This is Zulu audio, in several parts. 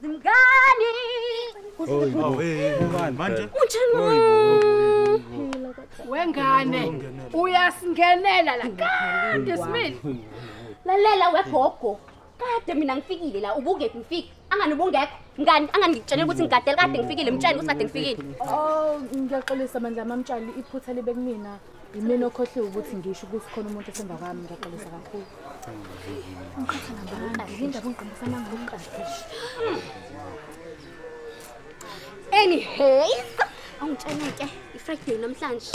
Zimngani. Manje wengane uyasingenela la kade smile lalela wegogo kade mina ngifikile la ubungephi ngifike angani ubungekho ngani angani ngikutshele ukuthi ngigadele kade ngifikile mtshele ukuthi kade ngifikile oh ngiyaxolisa mandla mamtshali iphutha libe kumina yimina okhohliwe ukuthi ngisho ukuthi khona umuntu osemva kwami ngiyaxolisa kakhulu anyhow angitshela ke ifriday namhlanje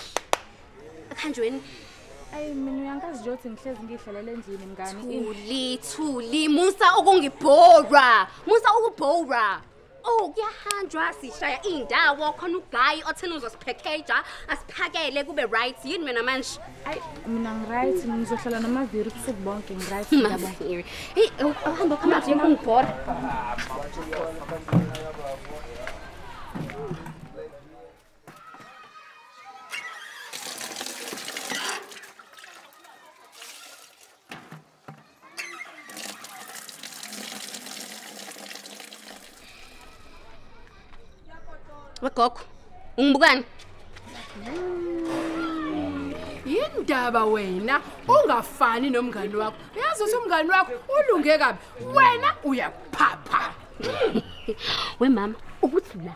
akhanjweni ayi mina uyangazi nje ukuthi ngihlezi ngidlalele endlini mngani thuli thuli musa ukungibhora musa ukubhora Oh kuyahanjwa sishaya indawo khona uguy othena uzosiphekeja asiphakele kube right yini mina manje Ay mina ngiright ngizohlala nomaviri ubusuku bonke ngiright yabo. Hey uhamba khona nje ungibhora wegogo ungibukani yindaba wena ungafani nomngani wakho uyazi ukuthi umngani wakho ulunge kabi wena uyaphapha we mama ukuthi la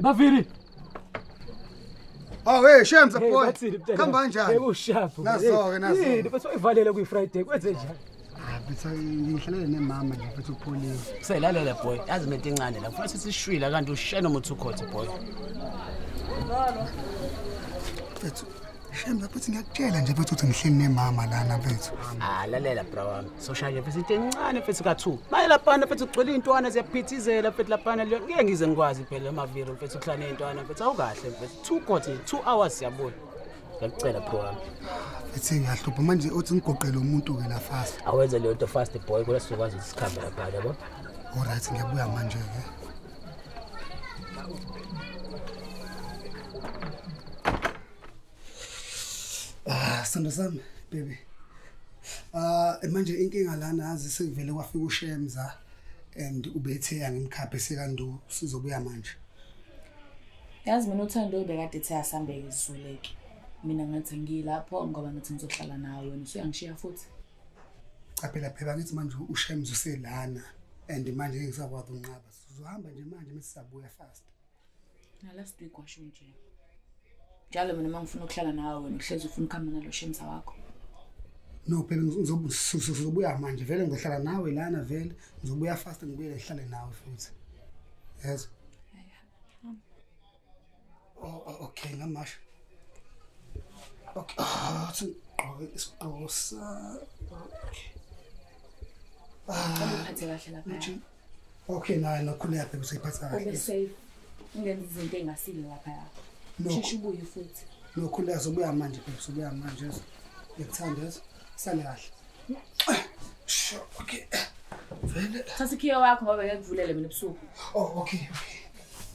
Baviri. Oh hey shame the boy. Khamba kanjani? Hey ushafu. Nazo ke nazo. Yini bese uyivalele kwi Friday kwenze njani? Ah, Bese ngihlalele nemama nje futhi upholile. Selalela boy, yazi mente incane la. Futhi sisishwila kanti ushena umuthi ukhothe boy. Mfethu Shem bafethu ngiyakutshela nje bafethu ukuthi ngihleli nemama lana bafethu. Ah lalela bra wami. Social nje bafethu encane bafethu ka2. Maye laphana bafethu kugcwele intwana siyaphithizela bafethu laphana leyo ngeke ngize ngikwazi phela amaviro bafethu kuhlala nezintwana bafethu awukahle bafethu. Two court 2 hours siyabona. Ngiyacela bro wami. Ethi ngiyahlupha manje uthi ngigoqele umuntu ke la fast. Awenze leyo nto fast boy kodwa sizokwazi ukuthi sikhambe lapha yabo. All right ngiyabuya manje ke. Ah, sando sami, baby. Ah, manje inkinga lana azi sekuvele kwafika uShemza and ubethe yangimkhaphe sekandu sizobuya manje. Yazi mina uthando ubekade ethe asambeke izuleke. Mina ngathi ngilapho ngoba ngathi ngizohlala nawe wena usuyangishiya futhi. Cha phela phela ngithi manje uShemza uselana and manje ngisakwazi unqaba. Sizohamba nje manje mesisabuya fast. na last week washo nje njalo mina uma ngifuna ukuhlala nawe wena uhlezi ufuna ukuhamba nalo shemsa wakho no phela ngizobuya manje vele ngizohlala nawe lana vele ngizobuya fast ngibuyele ngihlale nawe futhi yes oh, oh, okay ngamasho okay ah, sigqoke isigqosa okay ah, okay naye nokhuleka phela useyiphatha kahle ube safe ungenza izinto engasile lapha yakho sheshe ubuye futhi nokhuleka sobuya manje phela sobuya manje ngikuthanda yezo sale kahle sure okay vele thatha ikhiya wakho ngoba ngekuvulele mina ebusuku oh okay okay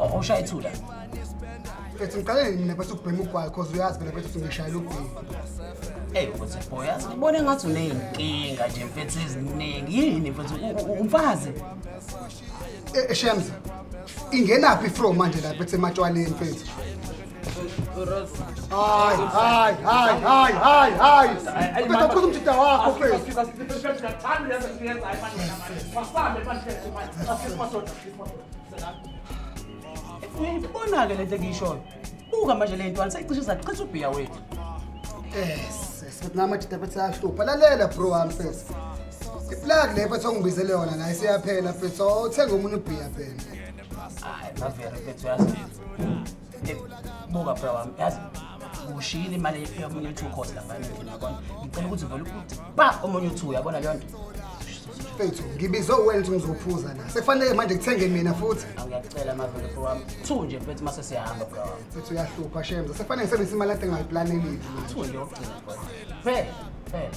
Awushaye ithula. Ethi ngiqale mina bese ubhema ugwayi cause uyazi phela bese ngishayela ubhema. Hey ukuthi boy yazi ngibone ngathi uneyinkinga nje mfethu eziningi. Yini mfethu umfazi? Eh, eh Shemza. Ingenaphi from manje lapha ethe ematshwaleni mfethu? Hai, hai, hai, hai, hai, hai. Pesa kuzo mchita wako pesa. Uyayibona-ke le nto engiyishoyo buka manje le ntwana seyicishe zachitha ubhiya wethu namajita bethi ayahlupha lalela bro wami fes iplug le bethi ongibizele yona naye seyaphela fes othenga omunye ubhiya phela hayi bavere fethu yazi buka bra wami yazi ushiyile imali yomunye uthu khosi lapha emithini yabona ngicela ukuthi vele ukuthi ba omunye uthu uyabona leyo nto fethu ngibizwe uwena ukuthi ngizophuza la sekufanele manje ngithenge mina futhi angiyacela mavele bro wami two nje mfethu mase siyahamba bro wami fethu uyahlupha shemza sekufanele ngisebenzise imali ade ngayiplanelile two nje yokugcina bro phela phela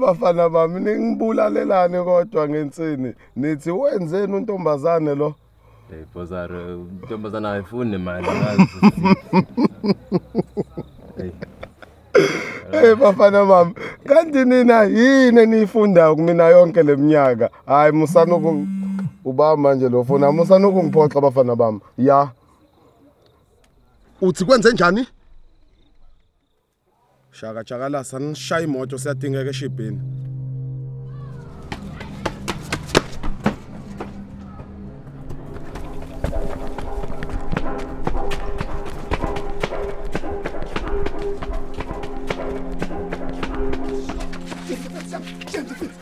bafana bami ningibulalelani kodwa ngensini nithi wenzeni untombazane lo Hey Bozaro, intombazana ayifuni nemali. Hey. Hey bafana mama, kanti nina yini eniyifunda kumina yonke leminyaka? Hayi musana uku ubaba manje lo fona musana ukungiphoxa bafana bami. Ya. Uthi kwenze njani? Shaka Chakalasa nishaya imoto siyadingeka eshibhini.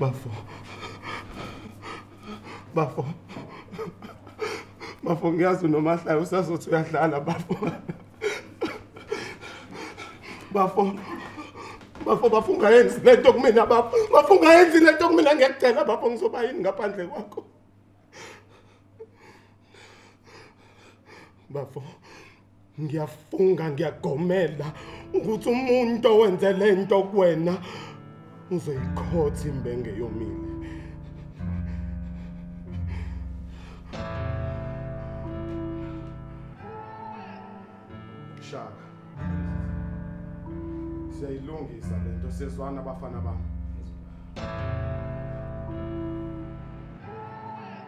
bafo bafo bafo ngiyazi unomahlaya usazothi uyadlala bafo bafo bafo bafo ungayenzi le nto kumina bafo bafo ungayenzi le nto kumina ngiyakutshela bafo ngizoba yini ngaphandle kwakho bafo ngiyafunga ngiyagomela ukuthi umuntu owenze le nto kuwena ngizoyikhotha imbenge yomile shaka siyayilungisa le nto siyezwana abafana bami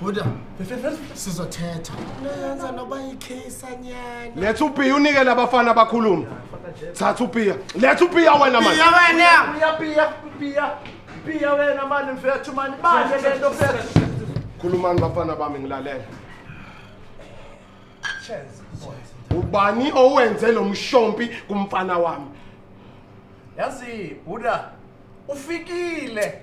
Buda, sizothetha. Lenza noba yikhisa nyana. Letha upiya unike labafana abakhuluma. Thatha upiya. Letha upiya wena manje. Piya wena. Piya piya piya. Piya wena manje mfethu manje. Banje lento mfethu. Khulumani bafana bami ngilalela. Chance. Ubani owenze lo mshompi kumfana wami? Yazi Buda ufikile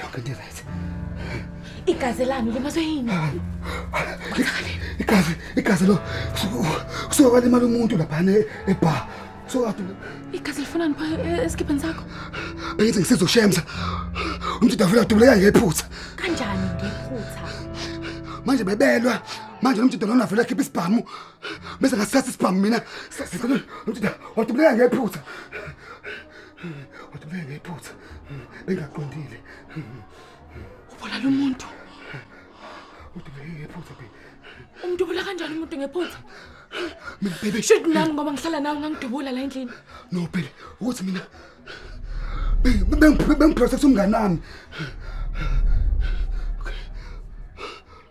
Yonke into right. Igazi lami limazwe yini? Igazi, igazi lo. Kusuka kwalimala umuntu lapha ne ebar. So kade igazi lifunani pha e, esikhipheni sakho? Bengithi ngisizoshemza. Umntu davula dubuleka ngephutha. Kanjani ngephutha? Manje bebelwa manje lo mjida lona vele akhipha isibhamu bese ngasithatha isibhamu mina umjida wadubuleka ngephutha Wathi kubuye ngephutha. Bengaqondile. Ubona lo muntu. Wathi kubuye ngephutha be. Umuntu ubula kanjani umuntu ngephutha? Mina baby. Shit nami ngoba ngihlala nawe ngangidubula la endlini. No baby, ukuthi mina bengiphrosexa umngane wami.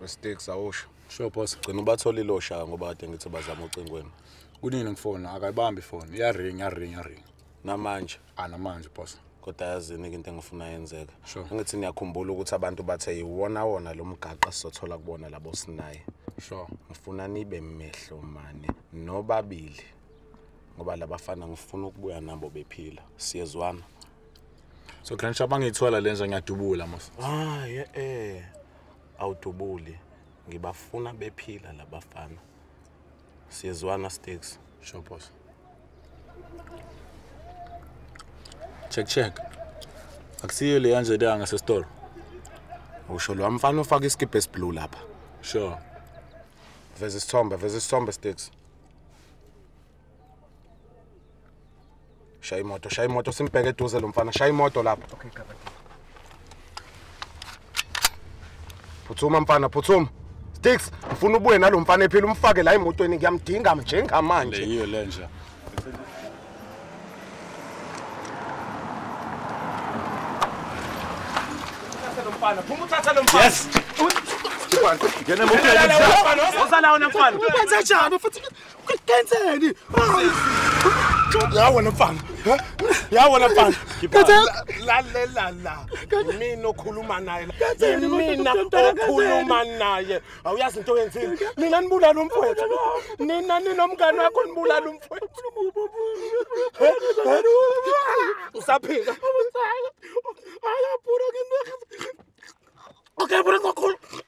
Mistake sawusho. Sure boss, gcina ubathola ilosha ngoba ade ngithi bazama ucingweni. Kunini ngifoni akayibambi ifoni, iyaring, iyaring, iyaring. Namanje. Ah namanje boss. kodwa yazini-ke into engifuna yenzeka sure. angithi niyakhumbula ukuthi abantu bathe yiwona wona lo mgaqa sizothola kubona labo sinaye sure. ngifuna nibe mehlo mane nobabili ngoba labafana ngifuna ukubuya nabo bephila siyezwana so grand shop angiyithola lenja ngiyadubula mos ah ye eh awudubuli ngibafuna bephila labafana siyezwana sticks sure boss check check akusiyo le yanje danga sesitolo usho lo mfana ufaka isikibhe esiblue lapha sure veza isithombe veza isithombe sticks shaya imoto shaya imoto simbheke eduze lo mfana shaya imoto lapho okay gaba phuthuma mfana phuthuma sticks ngifuna ubuye nalo mfana ephila umfake la emotweni ngiyamdinga njengamanje leyiyo lenja mfana phuma uthatha lo mfana yes ngena emotweni usalawo namfana ubenza njani futhi Kenzeni? Ya wena mfana. Ya wena mfana. Lalela la. Mina okhuluma naye. Mina okhuluma naye. Awuyazi into yenzile. Nina nibulala umfowethu. Nina ninomngane wakho nibulala umfowethu. Usaphila. Ayapura ngimekho. Okay, bro, ngokho.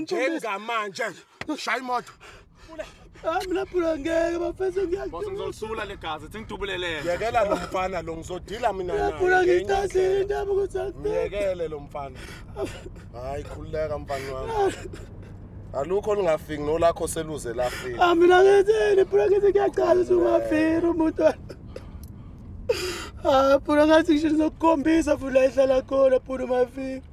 njengamanje shaya imoto hayi mina phula ngeke bafethu ngiyazosula legazi thi ngidubulelele yekela lo mfana lo ngizodila mina nayephula ngithathile indaba ukuthi ngiyekele lo mfana hayi khululeka mfana wami alukho olungafiki nolakho seluze lafika ah mina ngithini phula ngithi ngiyaqala ukuthi ungafiki umuntu ah phula ngathi ngisho ngizokukhombisa phula ehlala khona phula umafika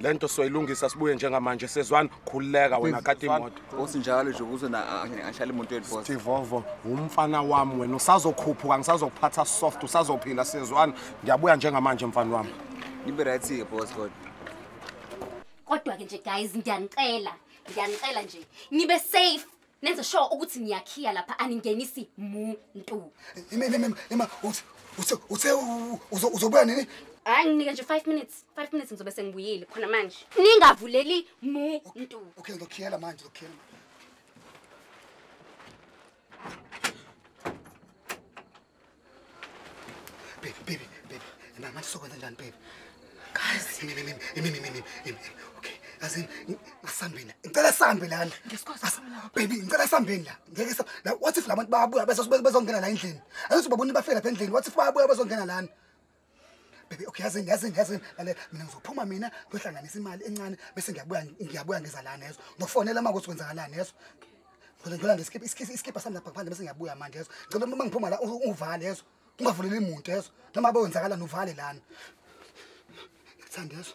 lento soyilungisa sibuye njengamanje sezwani khululeka wena kati imoto bosi njalo nje ukuze angishala imoto yenu bosi Tivovo umfana wami wena usazokhuphuka ngisazokuphatha soft usazophila sezwani ngiyabuya njengamanje mfana wami nibe right ke bosi kodwa kodwa ke nje guys ngiyanicela ngiyanicela nje nibe safe Nenze sure ukuthi niyakhiya lapha aningenisi muntu. Ime ime ime uthi uthe uthe uzobuya nini? Hayi nginike nje 5 minutes. 5 minutes ngizobe sengibuyile khona manje. Ningavuleli muntu. Okay ngizokhiyela manje ngizokhiyela. Baby, baby, baby. Mina manje sokwenza njani baby? Guys, mimi mimi mimi mimi mimi. Okay. Azin ngisambeni. Ngicela sambe lana. Baby, ngicela sambeni la. Ngeke sa. What if labantu bayabuya bese bezongena la endlini? Ayithi babona bafela lapha endlini. What if bayabuya bezongena lana? Baby okay yazi yazi yazi lalela mina ngizophuma mina ngiyohlanganisa imali encane bese ngiyabuya ngiyabuya ngeza la nezo. Ngiyofonela mama ukuthi kwenzakalani nezo. Ngicela ngicela nje skip skip skip asami lapha ngaphandle bese ngiyabuya manje yezo. Ngicela uma ngiphuma la uvale yezo. Ungavuleli umuntu yezo. Noma abe wenzakalani uvale lana. Ngithanda yezo.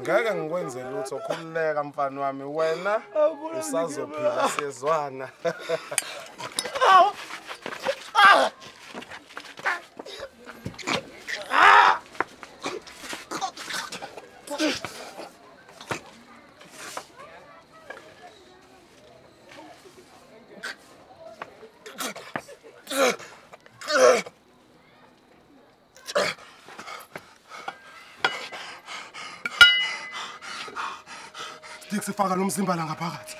ngeke ngikwenze lutho khululeka mfana wami wena usazophila siyezwana Stick sifaka lo mzimba la ngaphakathi.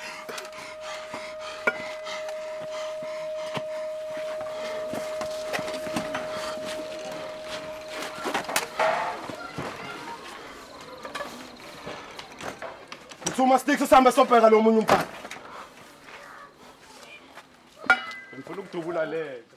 Thuma stick sisambe sobheka lo munye umfana. Ngifuna ukudubula lento.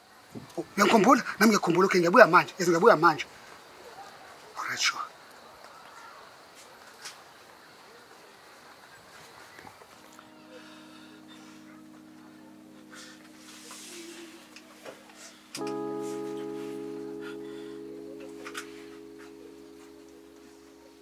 uyangikhumbula nami ngiyakhumbula okay ngiyabuya manje yes ngiyabuya manje alright sure